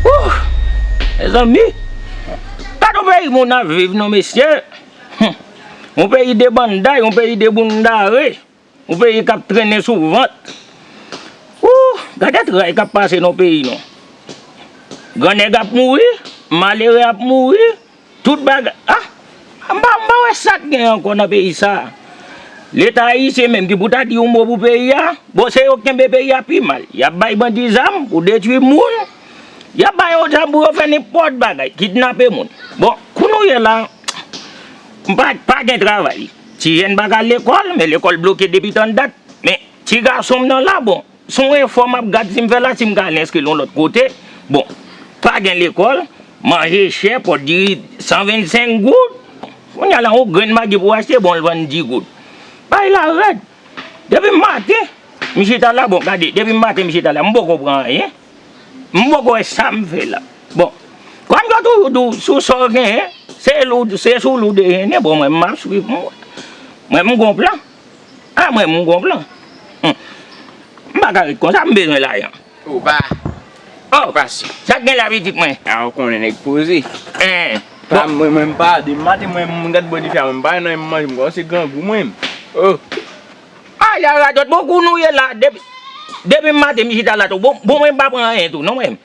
Ooh! Mezanmi! Pa nou peyi moun ap viv non mesye! Hum! Yon peyi de banday, yon peyi de boundare, yon peyi k ap trennen sou vant. Ooh! Gade tray k ap pase nan peyi nou. Gran nèg ap mouri, malere ap mouri. Tout bagay ah! M pa m pa wè sa k gen ankò nan peyi sa a. Leta ayisyen menm ki pou ta di yon mo pou peyi a, bon se yo k kenbe peyi a pi mal. Y ap bay bandi zam pou detwi moun, y ap ba yo zam pou yo fè nenpòt bagay, kidnape moun. Bon, kou nou ye la, m pa pa gen travay. Ti jèn pa ka al lekòl, men lekòl bloke depi tann dat. Men, ti gason m nan la, bon, Son efò map gad sim fèl la sim ka al enskri l yon lòt kote bon pa gen lekòl manje chè pòt diri 125 goud kounya la yon grenn magi pou achte bon l vann 10 goud bagay la rèd depi maten m chita la bon gade depi maten m chita la m poko pran anyen m poko wè sam fè la bon kòm yo toujou di w sou sa w genyen se sou li w deyennen bon mwen map swiv mwen mwen m gon plan. Ah mwen m gon plan. Humm. M paka ret konsa m bezwen lajan. Ou pa. Oh. Pa si. Sak gen la pitit mwen. Ah ou konnen nèg poze. Eeh. Bon. Mwen menm m pa depi maten mwen m gad bò dife a mwen m pa wè nan men m manje m kòmanse grangou mwen menm. Oh. Ah ya radòt bon kou nou ye la depi depi maten m chita la tou bon mwen m pa pran anyen tou non mwen m.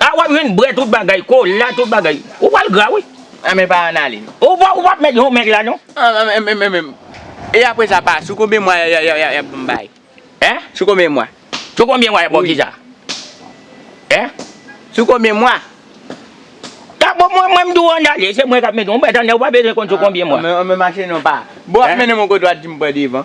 Ah wap jwenn brè tout bagay, kola tout bagay. Ou pral gra wi. An men pa an ale. Ou pap met yon mèg la non. E apre sa pa sou konbyen mwa yap pou m bay? Hein? Sou konbyen mwa? Sou konbyen mwa yap baw kisa? Hein? Sou konbyen mwa? Ah bon mwen menm di w an ale se mwen kap mete w. Mwen tande w pa bezwen konn sou konbyen mwa. An men mache non pa. Bon wap mennen m yon kote wap di m pran devan.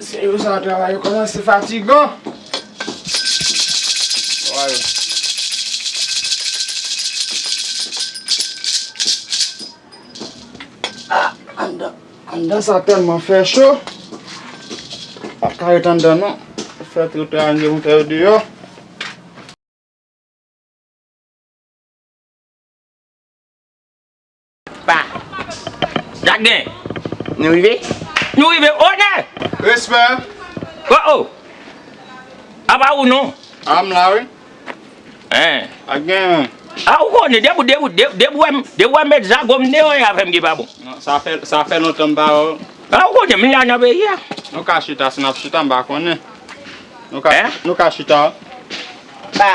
Se yo sa travay yo komanse fatigan. Anndan sa tèlman fè cho. Pa ka ret anndan non. Fè tout yo anndan pou fè yo deyò. Pa. Jak gen. Nou rive? Nou rive onè! Respè! O o! A pa ou non! A m la wi. Hein. A gen. A ou konnen depi ou depi ou depi ou wè m depi ou wè m met zago m deyò yon afè m ki pa bon. Non sa fè sa fè lontan m pa wè w. A ou konnen m la nan peyi a. Nou ka chita si n ap chita m pa konnen. Nou ka chita. Pa.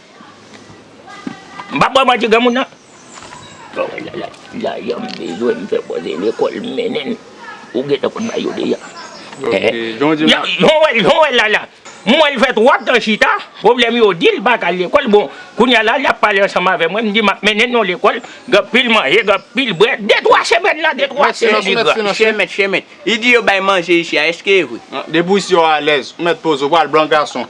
M pa bwè manti granmoun nan. Sa w wè la la, lajan m bezwen m fè bòzè lekòl m mennen l, ou gentan konn bay yo deja. Sa w wè la la, m wè l fè twòp tan chita, pwoblèm yo di l pa ka al lekòl, bon kounye a la l ap pale ansanm avè mwen, m di m ap mennen l nan lekòl, gen anpil manje, gen anpil bwè, de twa semèn la, de twa semèn li pran. Chè mèt, chè mèt, li di yo bay manje ichi a, èske e vre? Depi w isi w alèz, ou mèt poze w, ou pa al blan gason.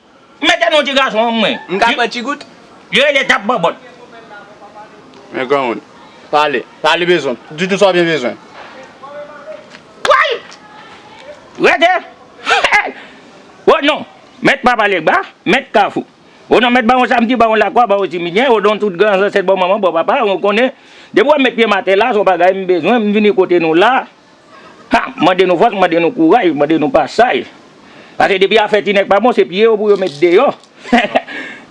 M mete non ti gason an mwen. M ka pran ti gout? Li rele tap bòbòt. Men granmoun. Pale. Pale bezwen. Di tout sa w gen bezwen. Woy! Rete! Hey! O non Mèt Papa Legba, Mèt Kafou. O non Mèt Bawon Samdi, Bawon Lakwa, Bawon Timidyen, o non tout gran zansèt bò manman, bò papa, ou konnen, depi wè m met pye m atè la, se yon bagay m bezwen, m vini kote nou la, Ha! M mande nou fòs, m mande nou kouraj, m mande nou pasaj. Pase depi afè ti nèg pa bon, se piye yo pou yo met deyò.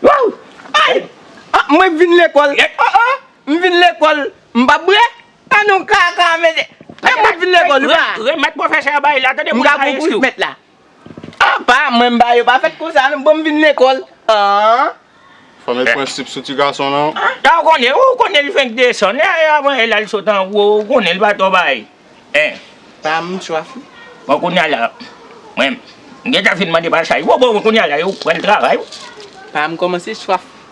Wouw! Ayy! Ah! Mwen k vin lekòl. Oh oh! M vin lekòl. M pa bre. Ah non kaka mède. Mwen k vin lekòl. Remèt pwofesè a bay la tande moun sa eskriw. M ka gou pou jmèt la. Apa mwen mba yo pa fèt konsa non bonm vin lekòl an. Fanm e prensip sou ti gason lan. Sa ou konnen ou konnen li fenk desann e avan e lal sot an wo ou konnen li pa twò bay en. Banm swaf wi. Bon kounya la mwen m gentan fin mande pasaj bon bon kounya la yo pran travay wi. Banm kòmanse swaf.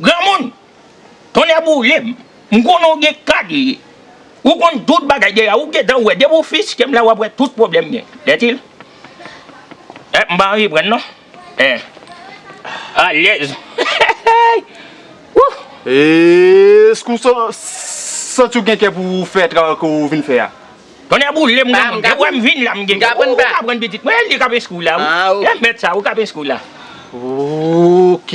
Granmoun! Tonnè boule m! M konnen w gen kalye. Ou konn tout bagay deja. Ou gen tan wè. Depi w fiske m la w ap wè tout pwoblèm gen. Dètil! Eh m pa anvi pran non. Eh! Alèz! Hehehey! Wouh! Èske ou santi w gen kè pou w fè travay ke w vin fè a? Tonnè boule m granmoun! Depi w wè m vin la m gen kè. Ou ka pran pitit mwen. Li k ap enskri w la wi. Eh mèt sa! Ou k ap enskri w la. Ok!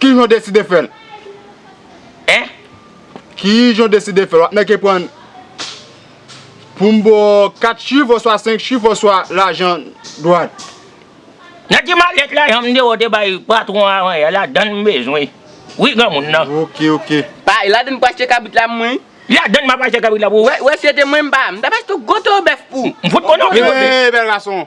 Kijan w deside fè l? Hein? Kijan w deside fè l? Wap mèke pran pou m ba w 4 chif oswa 5 chif oswa lajan dwat? Nan ti malèt la jan m te wè w te bay patwon an avan yè ladan l m bezwen wi granmoun nan. Ok ok. Pa ladan l pou achte kabrit la pou mwen wi. Ladan l map achte kabrit la pou ou? Wè si se te mwen m pa, m tap achte w gwo towo bèf pou ou. M fout konnen w ki kote. Hey bèl gason.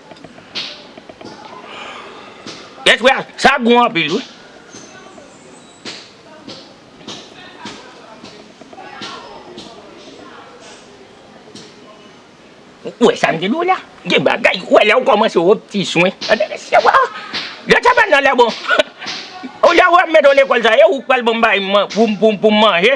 Tèt frè sa gou anpil wi. Ou wè sa m te di w la? Gen bagay ou wè lè ou kòmanse wè ti swen. Lè sa bann nan lè bon. Ou lè ou wè m mèt ou lekòl sa e ou k pral ban m bagay pou m manje.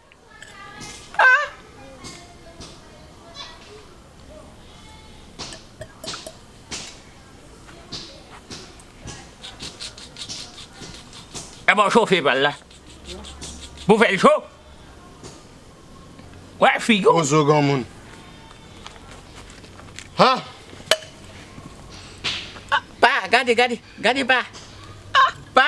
E ba w chofe pal la. Pou fè l cho. Wè figi w. Bozo granmoun. Ha! Pa! Gade, gade. Gade pa. Pa!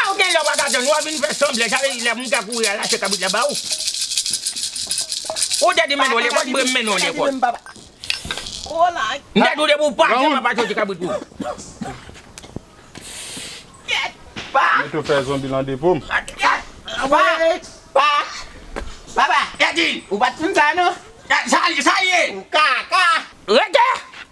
Aw gen lè wap atann wap vin fè sanblè sa vle di lè moun ka kouri al achte kabrit la baw ou te di menn ou lekòl m brem mennen w lekòl m te di w depi w pa achte papa soti kabrit pou Mwen tou fè zonbi lan depo m. Rete!